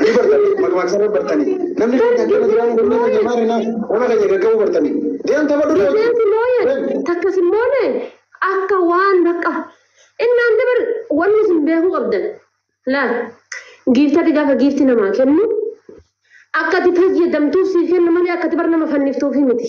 Ni bartanii akkuma dhumaa isaan bartanii. Namni keenya akkana jiraan kun nama keenya maal hinaa ona keenya gaggabuu bartanii. Deem tapha dura Takka hojii. si mooye, Deem. takka si mooye, akka waan bakka. Innaan dabar wanni isin beekuu qabdan. Laal, giiftatti gaafa giifti namaa kennu, akka ati fayyadamtuuf siif kennu malee akka ati bar nama fanniftuufi miti.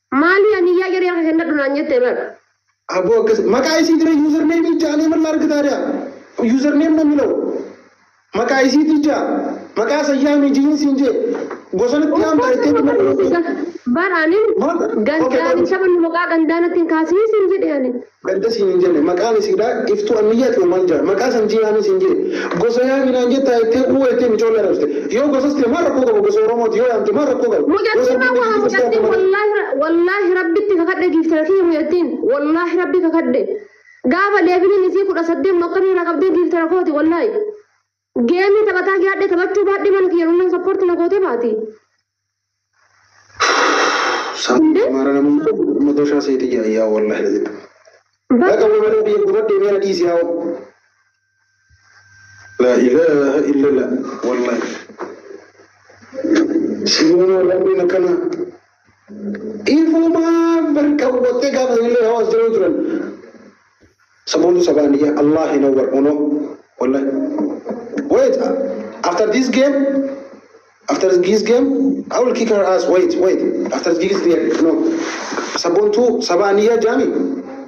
Maalii ani yaa jedhee akka kennadhu naan jette bar. Aboo akkas maqaa isii jira user name ijaa alee mallaa argataa dha user name namni law maqaa isii tijaa maqaa sayyaamii jiin siin jee gosanatti yaamta Of ittee course, tuma bar anin Maal? Okay, gandaan bar- isa bannu maqaa gandaanatti hin kaasii siin jedhe anin. Gadda siin hin jenne. Maqaan isiidha Iftuu Anniyyaati moo maal jedha? Maqaa san Jiihaanii siin jee. Gosa yaami naan jettaa jettee uu jettee micoollii arrabsite. Yoo gosas ta'e maal rakkoo qaba? Gosa Oromooti yoo yaamte maal rakkoo qaba? Yoo Mucattiin sabni amma haa Giiftii Kiristaanaa mucattiin malee. wallaahi wallaahi rabbitti kakadhe giiftara kiyya mucattiin wallaahi rabbi kakadhe gaafa leeviliin isii kudha saddeet mokkanii irraa qabdee giiftara kooti wallaahi Geemii taphataa yaadhe taphachuu baadhee mana kiyya runnan sappoorti na gootee baati. Saamii Amaara namuun amma doshaa seetii jira yaa wallahi na jedhu. Baqa wallahi biyya gubadhee meera dhiisi yaa oo. Laa ilaaha illallah wallahi. Sibumaa rabbiin akkanaa. Dhiifumaa mirga hubattee gaafa illee yoo as jiruu turan saboonni sabaan iyya Allah hin hawwar uno wallahi wait after this game after this game I will kick her ass wait wait after this game no sabontu sabaan iyya jaami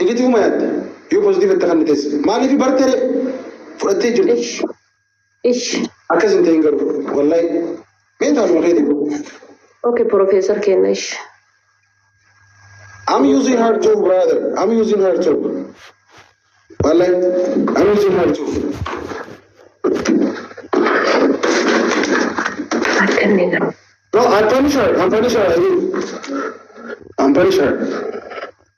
Negatiivuma yaadde yoo pozitiiva itti kennites maaliif bartere fudhattee jirti. Ish. Ish. Akkas hin ta'in garuu wallahi mee taasuma keeti. Okay, Professor kenna ish. I'm using her too brother. I'm using her too. Wallahi I'm using her too. Akka inni garuu. No, I'm punish her. I'm punish her. I will. I'm punish her.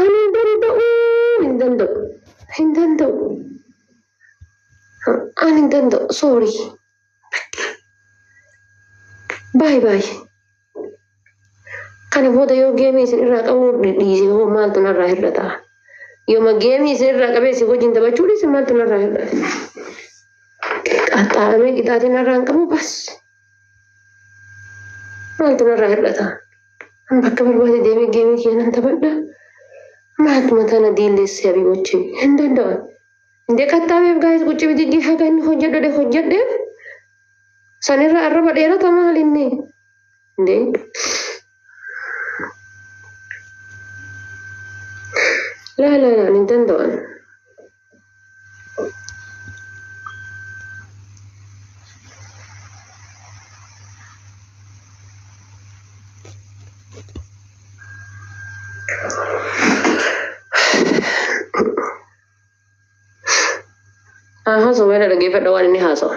Ani hin danda'u, hin danda'u, hin danda'u. Ani hin danda'u, sorry. Baay baay. Kana booda yoo geemii isin irraa qabuu dhiise hoo maaltu narraa hir'ata? Yooma geemii isin irraa qabee isin wajjin taphachuu dhiise maaltu narraa hir'ata? Qaxxaaramee qixaatiin narraa hin qabu bas. maaltu narraa hir'ata an bakka barbaade deemee geemii kiyya nan taphadha maaltu mataa na diilleessee abii wajjin hin danda'an indee qaxxaabeef gaa'is qucci bididdii haga inni hojjedhu dhe hojjedheef sanirra arraba dheerata maal inni indee laa laa laa hin danda'an Aha, so mana dhaggeeffadha waan inni haasawa.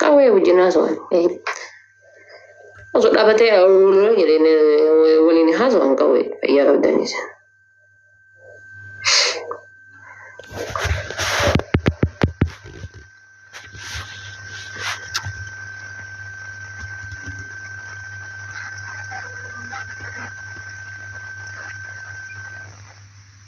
Qawwee wajjin haasawaan. Osoo dhaabatee awuuroo jedheen waliin haasawaan qawwee fayyaa qabdanis.